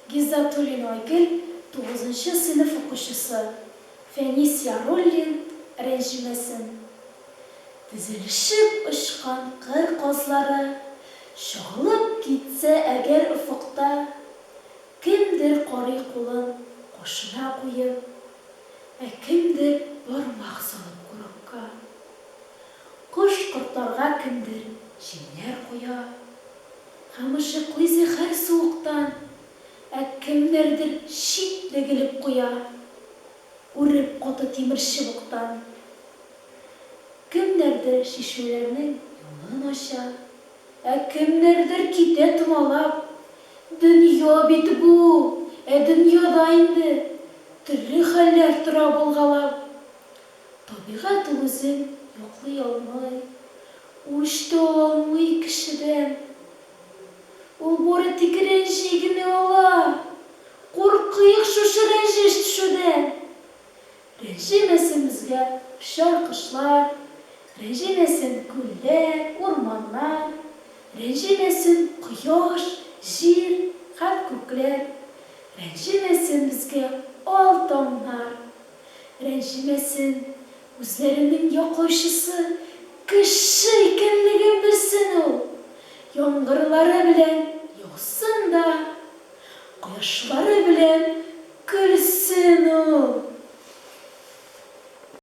Гиззатуллина Айгөл, тугызынчы сыйныф укучысы, Фәнис Яруллин, рәнҗемәсен. Тезелешеп очкан кыр казлары чагылып китсә әгәр офыкта, кемдер карый кулын кашына куеп, ә кемдер бармак салып курыкка. Кош-кортларга кемдер җимнәр куя. Кымшыклый зәһәр суыктан, ә кемнәрдер чит дегелеп куя, үреп каты тимер чыбыктан. Кемнәрдер чишмәләрнең юлын ача, ә кемнәрдер китә томалап. Дөнья бит бу, ә дөньяда инде төрле хәлләр тора булгалап. Табигать ул үзен яклый алмый, үч тә ала алмый кешедән. Ул бу рәтике рәнҗи генә ала. Куркыйк шушы рәнҗеш төшүдән! Рәнҗемәсен безгә очар-кошлар, рәнҗемәсен күлләр, урманнар, рәнҗемәсен кояш, җир һәм күкләр, рәнҗемәсен безгә ал таңнар! Рәнҗемәсен, үзләренең яклаучысы кеше икәнлеген белсен ул! Яңгырлары белән яусын да, кояшлары белән көлсен ул!